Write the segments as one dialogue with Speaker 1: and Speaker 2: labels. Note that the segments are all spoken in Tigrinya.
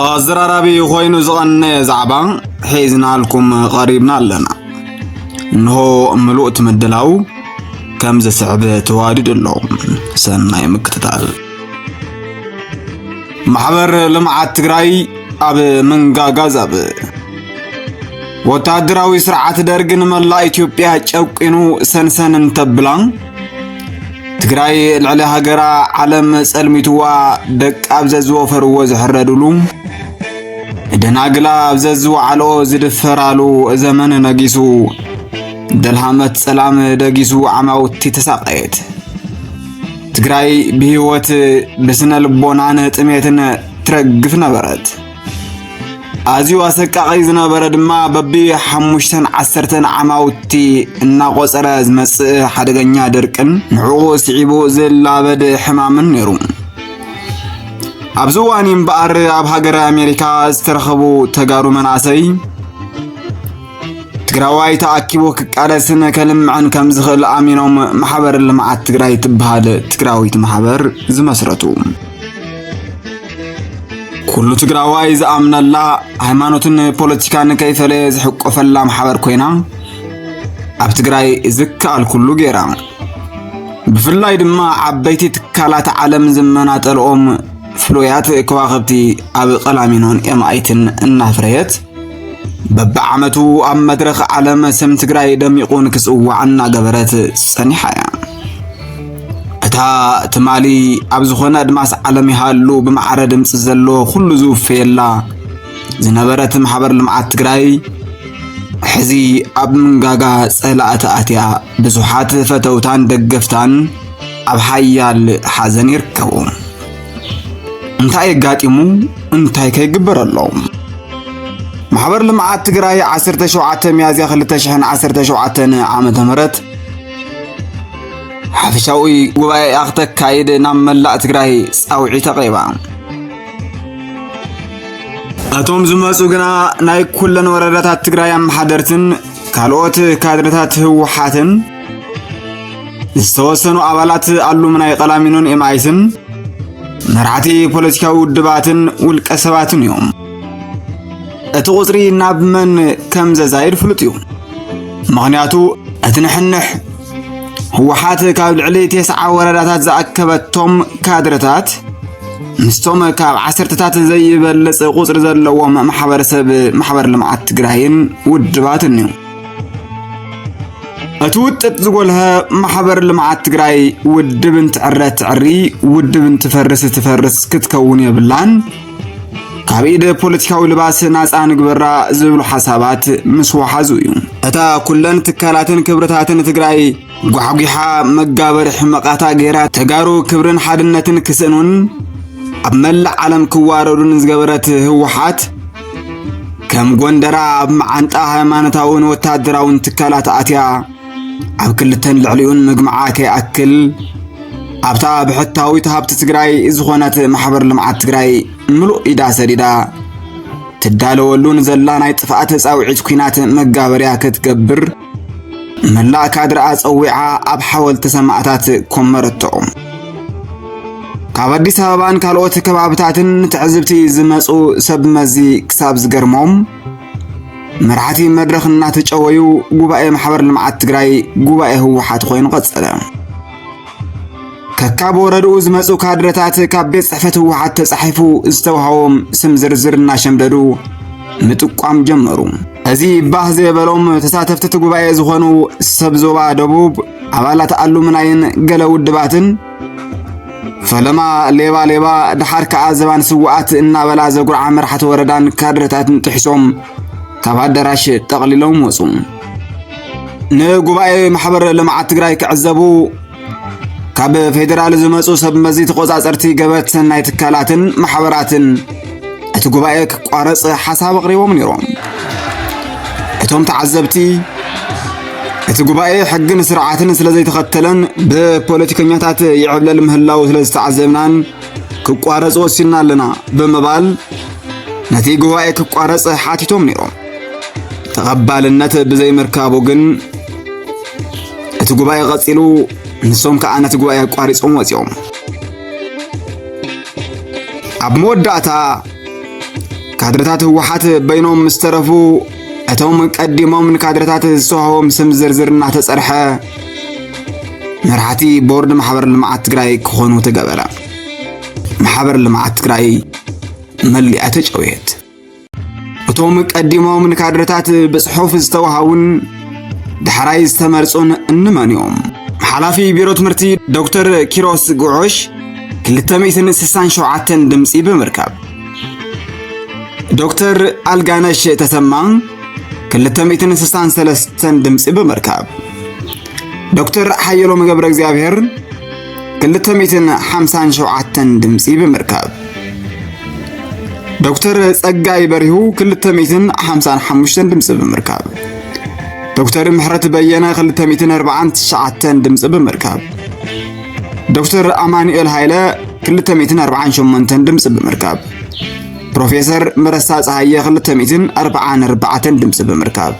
Speaker 1: ኣዘራራቢ ኮይኑ ዝቐነየ ዛዕባ ሒዝናልኩም ቐሪብና ኣለና እንሆ ምሉእ ትምድላው ከም ዝስዕብ ተዋዲዱ ኣሎ ሰናይ ምክትታል ማሕበር ልምዓት ትግራይ ኣብ ምንጋጋ ዛብ ወታደራዊ ስርዓት ደርግ ንመላእ ኢትዮጵያ ጨቂኑ ሰንሰን እንተብላ ትግራይ ልዕሊ ሃገራ ዓለም ጸልሚትዋ ደቂ ኣብ ዘዝወፈርዎ ዝሕረድሉ ደናግላ ኣብ ዘዝወዓሎ ዝድፈራሉ ዘመን ነጊሱ ደልሃመት ጸላም ደጊሱ ዓማውቲ ተሳቀየት ትግራይ ብህይወት ብስነ ልቦናን ጥሜትን ትረግፍ ነበረት። ኣዝዩ ኣሰቃቒ ዝነበረ ድማ በቢ ሓሙሽተን ዓሰርተን ዓማውቲ እናቖፀረ ዝመፅእ ሓደገኛ ድርቅን ንዕኡ ስዒቡ ዝላበድ ሕማምን ነይሩ። ኣብዚ እዋን እምበኣር ኣብ ሃገረ ኣሜሪካ ዝተረኸቡ ተጋሩ መናእሰይ ትግራዋይ ተኣኪቡ ክቃለስን ከልምዐን ከም ዝኽእል ኣሚኖም ማሕበር ልምዓት ትግራይ ትበሃል ትግራዊት ማሕበር ዝመስረቱ ኩሉ ትግራዋይ ዝኣምነላ ሃይማኖትን ፖለቲካን ከይፈለየ ዝሕቆፈላ ማሕበር ኮይና ኣብ ትግራይ ዝከኣል ኩሉ ገይራ ብፍላይ ድማ ዓበይቲ ትካላት ዓለም ዝመናጠልኦም ፍሉያት ከዋኽብቲ ኣብ ቀላሚኖን ኤምኣይትን እናፍረየት በብዓመቱ ኣብ መድረኽ ዓለም ስም ትግራይ ደሚቑ ንክጽዋዕ እናገበረት ጸኒሓ እያ። እታ ትማሊ ኣብ ዝኾነ ኣድማስ ዓለም ይሃሉ ብማዕረ ድምፂ ዘለዎ ኩሉ ዝውፈየላ ዝነበረት ማሕበር ልምዓት ትግራይ ሕዚ ኣብ ምንጋጋ ጸላእቲ ኣትያ ብዙሓት ፈተውታን ደገፍታን ኣብ ሓያል ሓዘን ይርከቡ። እንታይ ኣጋጢሙ እንታይ ከይግበር ኣሎ ማሕበር ልምዓት ትግራይ 17 ሚያዝያ 2017 ዓመተ ምህረት ሓፈሻዊ ጉባኤ ክተካይድ ናብ መላእ ትግራይ ፃውዒት ኣቕሪባ እቶም ዝመፁ ግና ናይ ኩለን ወረዳታት ትግራይ ኣመሓደርትን ካልኦት ካድረታት ህወሓትን ዝተወሰኑ ኣባላት ኣሉምናይ ቀላሚኖን ኤምኣይስን መራሕቲ ፖለቲካዊ ውድባትን ውልቀ ሰባትን እዮም። እቲ ቁፅሪ ናብ መን ከም ዘዛይድ ፍሉጥ እዩ። ምኽንያቱ እቲ ንሕንሕ ህወሓት ካብ ልዕሊ ቴስዓ ወረዳታት ዝኣከበቶም ካድረታት ምስቶም ካብ ዓሰርተታት ዘይበልፅ ቁፅሪ ዘለዎም ማሕበረሰብ ማሕበር ልምዓት ትግራይን ውድባትን እዩ። እቲ ውጥጥ ዝጎልሀ ማሕበር ልምዓት ትግራይ ውድብ እንትዕረ ትዕሪ ውድብ እንትፈርስ ትፈርስ ክትከውን የብላን ካብ ኢደ ፖለቲካዊ ልባስ ናፃ ንግበራ ዝብሉ ሓሳባት ምስ ወሓዙ እዩ እታ ኩለን ትካላትን ክብርታትን ትግራይ ጓሕጒሓ መጋበሪ ሕመቓታ ገይራ ተጋሩ ክብርን ሓድነትን ክስእኑን ኣብ መላእ ዓለም ክዋረዱን ዝገበረት ህወሓት ከም ጎንደራ ኣብ መዓንጣ ሃይማኖታውን ወታደራውን ትካላት ኣትያ ኣብ ክልተን ልዕሊኡን ምግማዓ ከይኣክል ኣብታ ብሕታዊት ሃብቲ ትግራይ ዝኾነት ማሕበር ልምዓት ትግራይ ምሉእ ኢዳ ሰዲዳ ትዳለወሉን ዘላ ናይ ጥፍኣት ፃውዒት ኩናት መጋበርያ ክትገብር መላእ ካድርኣ ጸዊዓ ኣብ ሓወልቲ ሰማእታት ኮመረቶ። ካብ ኣዲስ ኣበባን ካልኦት ከባብታትን ትዕዝብቲ ዝመጹ ሰብ መዚ ክሳብ ዝገርሞም መራሕቲ መድረኽ እናተጨወዩ ጉባኤ ማሕበር ልምዓት ትግራይ ጉባኤ ህወሓት ኮይኑ ቀጸለ። ከካብ ወረድኡ ዝመፁ ካድረታት ካብ ቤት ጽሕፈት ህወሓት ተጻሒፉ ዝተዋህቦም ስም ዝርዝር እናሸምደዱ ምጥቋም ጀመሩ። እዚ ባህ ዘበሎም ተሳተፍቲ እቲ ጉባኤ ዝኾኑ ሰብ ዞባ ደቡብ ኣባላት ኣሉምናይን ገለ ውድባትን ፈለማ ሌባ ሌባ ድሓር ከዓ ዘባን ስዋኣት እናበላ ዘጉርዓ መራሕቲ ወረዳን ካድረታትን ጥሒሶም ካብ ኣዳራሽ ጠቕሊሎም ወፁ። ንጉባኤ ማሕበር ልምዓት ትግራይ ክዕዘቡ ካብ ፌዴራል ዝመፁ ሰብ መዚ ተቆፃፀርቲ ገበት ሰናይ ትካላትን ማሕበራትን እቲ ጉባኤ ክቋረፅ ሓሳብ ኣቕሪቦም ነይሮም እቶም ተዓዘብቲ እቲ ጉባኤ ሕግን ስርዓትን ስለ ዘይተኸተለን ብፖለቲከኛታት ይዕብለል ምህላው ስለ ዝተዓዘብናን ክቋረፅ ወሲንና ኣለና ብምባል ነቲ ጉባኤ ክቋረፅ ሓቲቶም ነይሮም ተቐባልነት ብዘይምርካቡ ግን እቲ ጉባኤ ቐጺሉ ንሶም ከዓ ነቲ ጉባኤ ኣቋሪጾም ወፂኦም ኣብ መወዳእታ ካድረታት ህወሓት በይኖም ምስ ተረፉ እቶም ቀዲሞም ንካድረታት ዝሰሃቦም ስም ዝርዝር እናተፀርሐ መራሕቲ ቦርድ ማሕበር ልምዓት ትግራይ ክኾኑ ተገበረ። ማሕበር ልምዓት ትግራይ መሊኣ ተጨውየት። እቶም ቀዲሞም ንካድረታት ብጽሑፍ ዝተዋሃቡን ዳሕራይ ዝተመርጹን እንመን እዮም? ሓላፊ ቢሮ ትምህርቲ ዶክተር ኪሮስ ጉዑሽ 267 ድምፂ ብምርካብ ዶክተር ኣልጋነሽ ተሰማ 263 ድምፂ ብምርካብ ዶክተር ሓየሎም ገብረ እግዚኣብሔር ክልተ ሚእትን ሓምሳን ሸውዓተን ድምፂ ብምርካብ ዶክተር ጸጋይ በሪሁ ክልተ ሚእትን ሓምሳን ሓሙሽተን ድምፂ ብምርካብ ዶክተር ምሕረት በየነ ክልተ ሚእትን ኣርባዓን ትሽዓተን ድምፂ ብምርካብ ዶክተር ኣማኑኤል ሃይለ ክልተ ሚእትን ኣርባዓን ሸሞንተን ድምፂ ብምርካብ ፕሮፌሰር መረሳ ፀሃየ ክልተ ሚእትን ኣርባዓን ኣርባዕተን ድምፂ ብምርካብ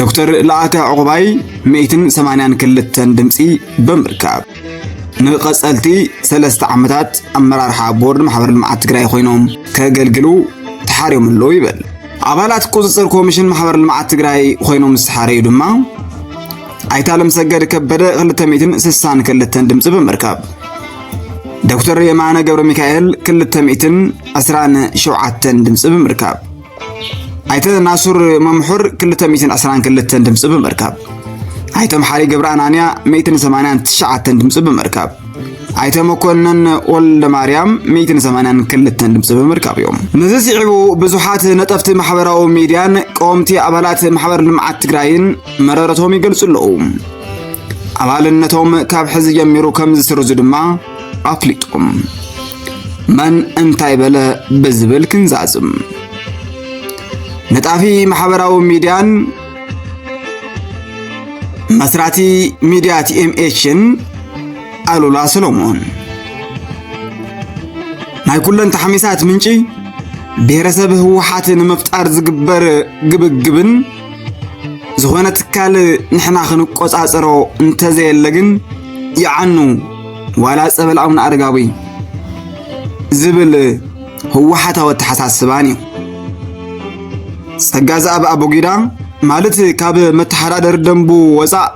Speaker 1: ዶክተር ለኣከ ዕቑባይ ሚእትን ሰማንያን ክልተን ድምፂ ብምርካብ ንቐፀልቲ ሰለስተ ዓመታት ኣመራርሓ ቦርድ ማሕበር ልምዓት ትግራይ ኮይኖም ከገልግሉ ተሓርዮም ኣለዉ ይብል ኣባላት ቁፅፅር ኮሚሽን ማሕበር ልምዓት ትግራይ ኮይኖም ዝተሓረዩ ድማ ኣይተ ኣለምሰገድ ከበደ 262 ድምፂ ብምርካብ ዶክተር የማነ ገብረ ሚካኤል 227 ድምፂ ብምርካብ ኣይተ ናሱር መምሑር 222 ድምፂ ብምርካብ ኣይተ መሓሪ ገብረ ኣናንያ 189 ድምፂ ብምርካብ ኣይተ መኮንን ወልደ ማርያም 182 ድምፂ ብምርካብ እዮም ነዚ ስዒቡ ብዙሓት ነጠፍቲ ማሕበራዊ ሚድያን ቀወምቲ ኣባላት ማሕበር ልምዓት ትግራይን መረረቶም ይገልፁ ኣለዉ ኣባልነቶም ካብ ሕዚ ጀሚሩ ከም ዝስርዙ ድማ ኣፍሊጦም መን እንታይ በለ ብዝብል ክንዛዝም ነጣፊ ማሕበራዊ ሚድያን መስራቲ ሚድያ ቲኤምኤችን ኣሉላ ሰሎሞን ናይ ኩለን ተሓሚሳት ምንጪ ብሔረሰብ ህወሓት ንምፍጣር ዝግበር ግብግብን ዝኾነ ትካል ንሕና ክንቆፃፀሮ እንተዘየለ ግን ይዓኑ ዋላ ፀበል ኣቡነ ኣረጋዊ ዝብል ህወሓታዊ ኣተሓሳስባን እዩ ጸጋ ዘኣብ ኣቦጊዳ ማለት ካብ መተሓዳደሪ ደንቡ ወፃእ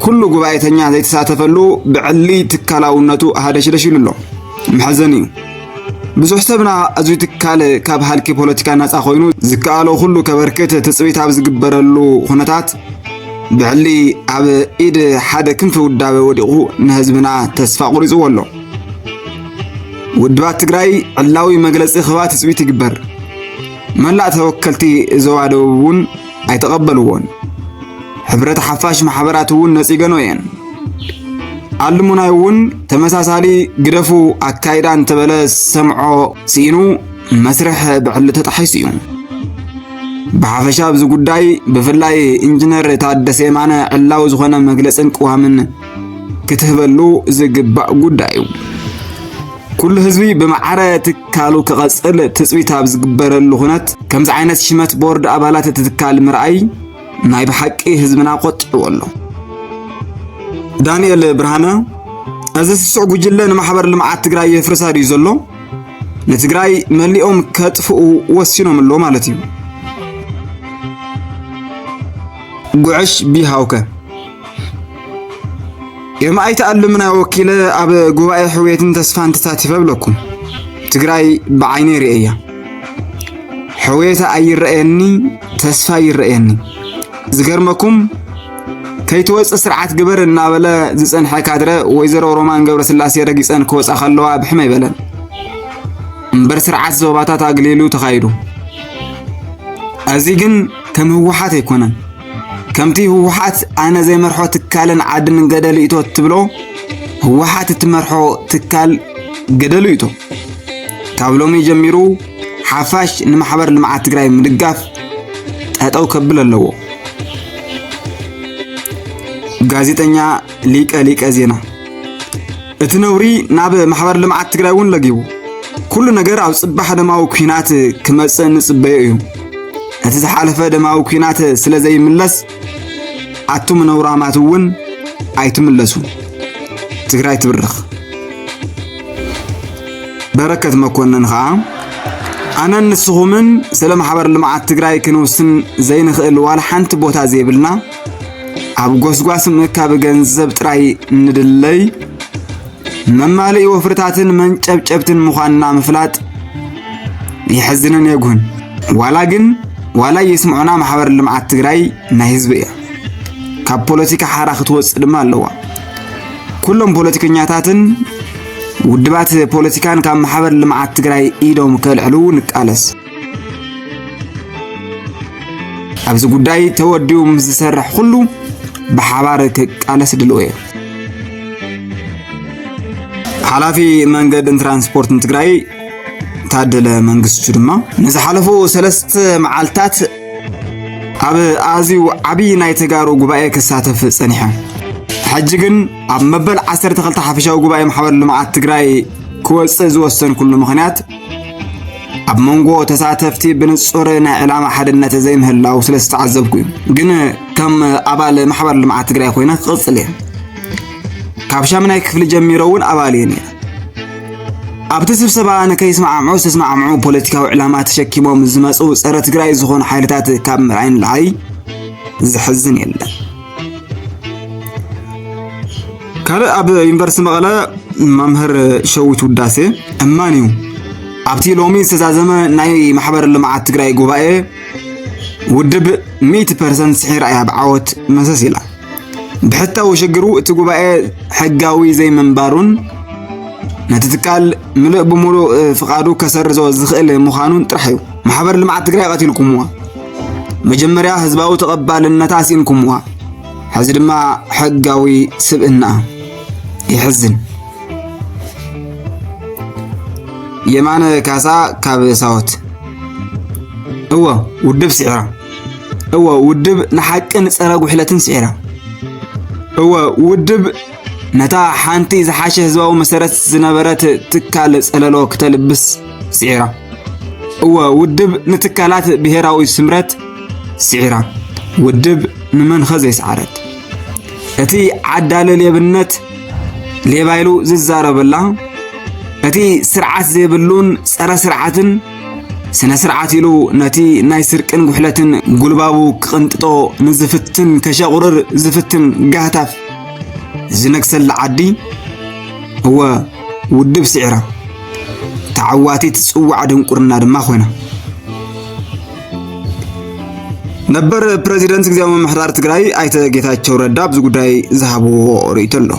Speaker 1: ኩሉ ጉባኤተኛ ዘይተሳተፈሉ ብዕሊ ትካላውነቱ ሃደሽደሽ ኢሉ ኣሎ መሕዘን እዩ ብዙሕ ሰብና እዚ ትካል ካብ ሃልኪ ፖለቲካ ናጻ ኮይኑ ዝከኣሎ ኩሉ ከበርክት ትጽቢት ኣብ ዝግበረሉ ኩነታት ብዕሊ ኣብ ኢድ ሓደ ክንፊ ውዳበ ወዲቑ ንህዝብና ተስፋ ቁሪጽዎ ኣሎ። ውድባት ትግራይ ዕላዊ መግለጺ ክባ ትጽቢት ይግበር። መላእ ተወከልቲ ዞባ ደቡብ እውን ኣይተቐበልዎን። ሕብረት ሓፋሽ ማሕበራት እውን ነጺገኖ እየን። ኣልሙናይ እውን ተመሳሳሊ ግደፉ ኣካይዳ እንተበለ ሰምዖ ስኢኑ መስርሕ ብዕሊ ተጣሒሱ እዩ። ብሓፈሻ ኣብዚ ጉዳይ ብፍላይ ኢንጂነር ታደሰ የማነ ዕላዊ ዝኾነ መግለፅን ቅዋምን ክትህበሉ ዝግባእ ጉዳይ እዩ። ኩሉ ህዝቢ ብማዕረ ትካሉ ክቐጽል ትጽቢት ኣብ ዝግበረሉ ኩነት ከምዚ ዓይነት ሽመት ቦርድ ኣባላት እቲ ትካል ምርኣይ ናይ ብሓቂ ህዝብና ቆጢዑዎ ኣሎ። ዳንኤል ብርሃነ እዚ ስሱዕ ጉጅለ ንማሕበር ልምዓት ትግራይ የፍርሳ ድዩ ዘሎ? ንትግራይ መሊኦም ከጥፍኡ ወሲኖም ኣሎ ማለት እዩ። ጉዕሽ ቢሃውከ ዮም ኣይተኣልምና ወኪለ ኣብ ጉባኤ ሕውየትን ተስፋን ተሳቲፈ ብለኩም ትግራይ ብዓይነ ይርእያ ሕውየታ ኣይረአየኒ ተስፋ ይረአየኒ ዝገርመኩም ከይትወፅእ ስርዓት ግበር እናበለ ዝፀንሐ ካድረ ወይዘሮ ሮማን ገብረስላሴ ረጊፀን ክወፃ ከለዋ ብሕመ ይበለን እምበር ስርዓት ዞባታት ኣግሊሉ ተኻይዱ እዚ ግን ከም ህወሓት ኣይኮነን ከምቲ ህወሓት ኣነ ዘይመርሖ ትካልን ዓድን ገደሉ እቶ ትብሎ ህወሓት እትመርሖ ትካል ገደሉ እቶ ካብ ሎሚ ጀሚሩ ሓፋሽ ንማሕበር ልምዓት ትግራይ ምድጋፍ ጠጠው ከብል ኣለዎ። ጋዜጠኛ ሊቀ ሊቀ ዜና እቲ ነውሪ ናብ ማሕበር ልምዓት ትግራይ እውን ለጊቡ ኩሉ ነገር ኣብ ጽባሕ ደማዊ ኩናት ክመጽእ ንጽበዮ እዩ እቲ ዝሓለፈ ደማዊ ኩናት ስለ ዘይምለስ ኣቱም ነውራማት እውን ኣይትምለሱ ትግራይ ትብርኽ በረከት መኮንን ከዓ ኣነን ንስኹምን ስለ ማሕበር ልምዓት ትግራይ ክንውስን ዘይንኽእል ዋላ ሓንቲ ቦታ ዘይብልና ኣብ ጎስጓስ ምእካብ ገንዘብ ጥራይ እንድለይ መማልኢ ወፍርታትን መንጨብጨብትን ምዃንና ምፍላጥ የሕዝንን የጉህን። ዋላ ግን ዋላ የስምዑና ማሕበር ልምዓት ትግራይ ናይ ህዝቢ እያ። ካብ ፖለቲካ ሓራ ክትወፅእ ድማ ኣለዋ። ኩሎም ፖለቲከኛታትን ውድባት ፖለቲካን ካብ ማሕበር ልምዓት ትግራይ ኢዶም ከልዕሉ ንቃለስ። ኣብዚ ጉዳይ ተወዲኡ ምስ ዝሰርሕ ኩሉ ብሓባር ክቃለስ ድልዎ እየ። ሓላፊ መንገድን ትራንስፖርትን ትግራይ ታደለ መንግስቱ ድማ ንዝሓለፉ ሰለስተ መዓልትታት ኣብ ኣዝዩ ዓብዪ ናይ ተጋሩ ጉባኤ ክሳተፍ ጸኒሐ ሕጂ ግን ኣብ መበል 12 ሓፈሻዊ ጉባኤ ማሕበር ልምዓት ትግራይ ክወፅእ ዝወሰንኩሉ ምኽንያት ኣብ መንጎ ተሳተፍቲ ብንጹር ናይ ዕላማ ሓድነት ዘይምህላው ስለ ዝተዓዘብኩ እዩ ግን ከም ኣባል ማሕበር ልምዓት ትግራይ ኮይነ ክቕጽል እየ ካብ ሻምናይ ክፍሊ ጀሚሮ እውን ኣባል እየ ነይረ ኣብቲ ስብሰባ ንከይስማዕምዑ ዝተስማዕምዑ ፖለቲካዊ ዕላማ ተሸኪሞም ዝመፁ ፀረ ትግራይ ዝኾኑ ሓይልታት ካብ ምርኣይ ንላዕሊ ዘሕዝን የለን ካልእ ኣብ ዩኒቨርሲቲ መቐለ መምህር ሸዊት ውዳሴ እማን እዩ ኣብቲ ሎሚ ዝተዛዘመ ናይ ማሕበር ልምዓት ትግራይ ጉባኤ ውድብ 100 ፐርሰንት ስሒራ እያ ብዓወት መሰስ ኢላ ብሕታዊ ሽግሩ እቲ ጉባኤ ሕጋዊ ዘይምንባሩን ነቲ ትካል ምሉእ ብምሉእ ፍቓዱ ከሰርዞ ዝኽእል ምዃኑን ጥራሕ እዩ ማሕበር ልምዓት ትግራይ ቀቲልኩምዋ መጀመርያ ህዝባዊ ተቐባልነት ኣስኢንኩምዋ፣ ሕዚ ድማ ሕጋዊ ስብእና ይሕዝን። የማነ ካሳ ካብ ሳወት እወ ውድብ ስዒራ እወ ውድብ ንሓቅን ጸረ ጉሕለትን ስዒራ እወ ውድብ ነታ ሓንቲ ዝሓሸ ህዝባዊ መሰረት ዝነበረት ትካል ጸለሎ ክተልብስ ስዒራ። እወ ውድብ ንትካላት ብሔራዊ ስምረት ስዒራ። ውድብ ንመንኸ ዘይሰዓረት እቲ ዓዳሊ ሌብነት ሌባ ኢሉ ዝዛረበላ እቲ ስርዓት ዘይብሉን ጸረ ስርዓትን ስነ ስርዓት ኢሉ ነቲ ናይ ስርቅን ጉሕለትን ጉልባቡ ክቕንጥጦ ንዝፍትን ከሸቑርር ዝፍትን ጋህታፍ ዝነግሰላ ዓዲ እወ ውድብ ስዒራ ተዓዋቲት ጽዋዕ ድንቁርና ድማ ኮይና ነበር ፕረዚደንት ግዜያዊ ምምሕዳር ትግራይ ኣይተ ጌታቸው ረዳ ኣብዚ ጉዳይ ዝሃብዎ ርእይቶ ኣሎ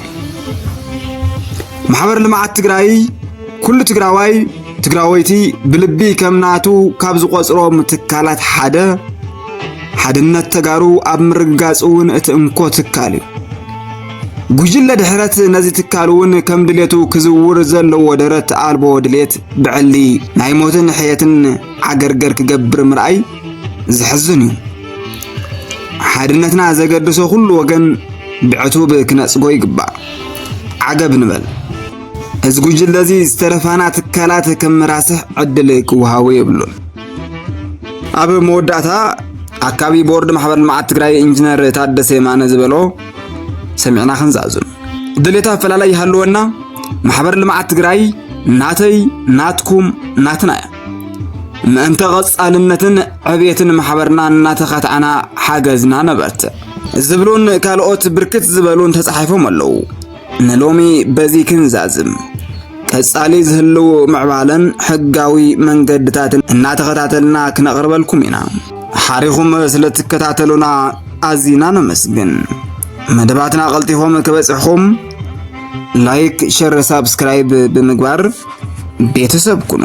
Speaker 1: ማሕበር ልምዓት ትግራይ ኩሉ ትግራዋይ ትግራወይቲ ብልቢ ከም ናቱ ካብ ዝቆፅሮም ትካላት ሓደ ሓድነት ተጋሩ ኣብ ምርግጋጽ እውን እቲ እንኮ ትካል እዩ። ጉጅለ ድሕረት ነዚ ትካል እውን ከም ድሌቱ ክዝውር ዘለዎ ደረት ኣልቦ ድሌት ብዕሊ ናይ ሞትን ሕየትን ዓገርገር ክገብር ምርኣይ ዘሕዝን እዩ። ሓድነትና ዘገድሶ ኩሉ ወገን ብዕቱብ ክነጽጎ ይግባእ። ዓገብ ንበል። እዚ ጉጅለ እዚ ዝተረፋና ትካላት ከም መራስሕ ዕድል ክወሃቦ የብሉን። ኣብ መወዳእታ ኣካቢ ቦርድ ማሕበር ልምዓት ትግራይ ኢንጂነር ታደሰ የማነ ዝበሎ ሰሚዕና ክንዛዙን ድሌት ኣፈላላይ ይሃለወና ማሕበር ልምዓት ትግራይ ናተይ ናትኩም ናትና እያ ምእንተ ቐጻልነትን ዕብየትን ማሕበርና እናተኸታዕና ሓገዝና ነበርትዕ ዝብሉን ካልኦት ብርክት ዝበሉን ተጻሒፎም ኣለዉ ንሎሚ በዚ ክንዛዝም ቀጻሊ ዝህልው ምዕባለን ሕጋዊ መንገድታትን እናተኸታተልና ክነቕርበልኩም ኢና። ሓሪኹም ስለትከታተሉና ኣዚና ነመስግን። መደባትና ቀልጢፎም ክበጽሕኹም ላይክ፣ ሸር፣ ሳብስክራይብ ብምግባር ቤተሰብ ኩኑ።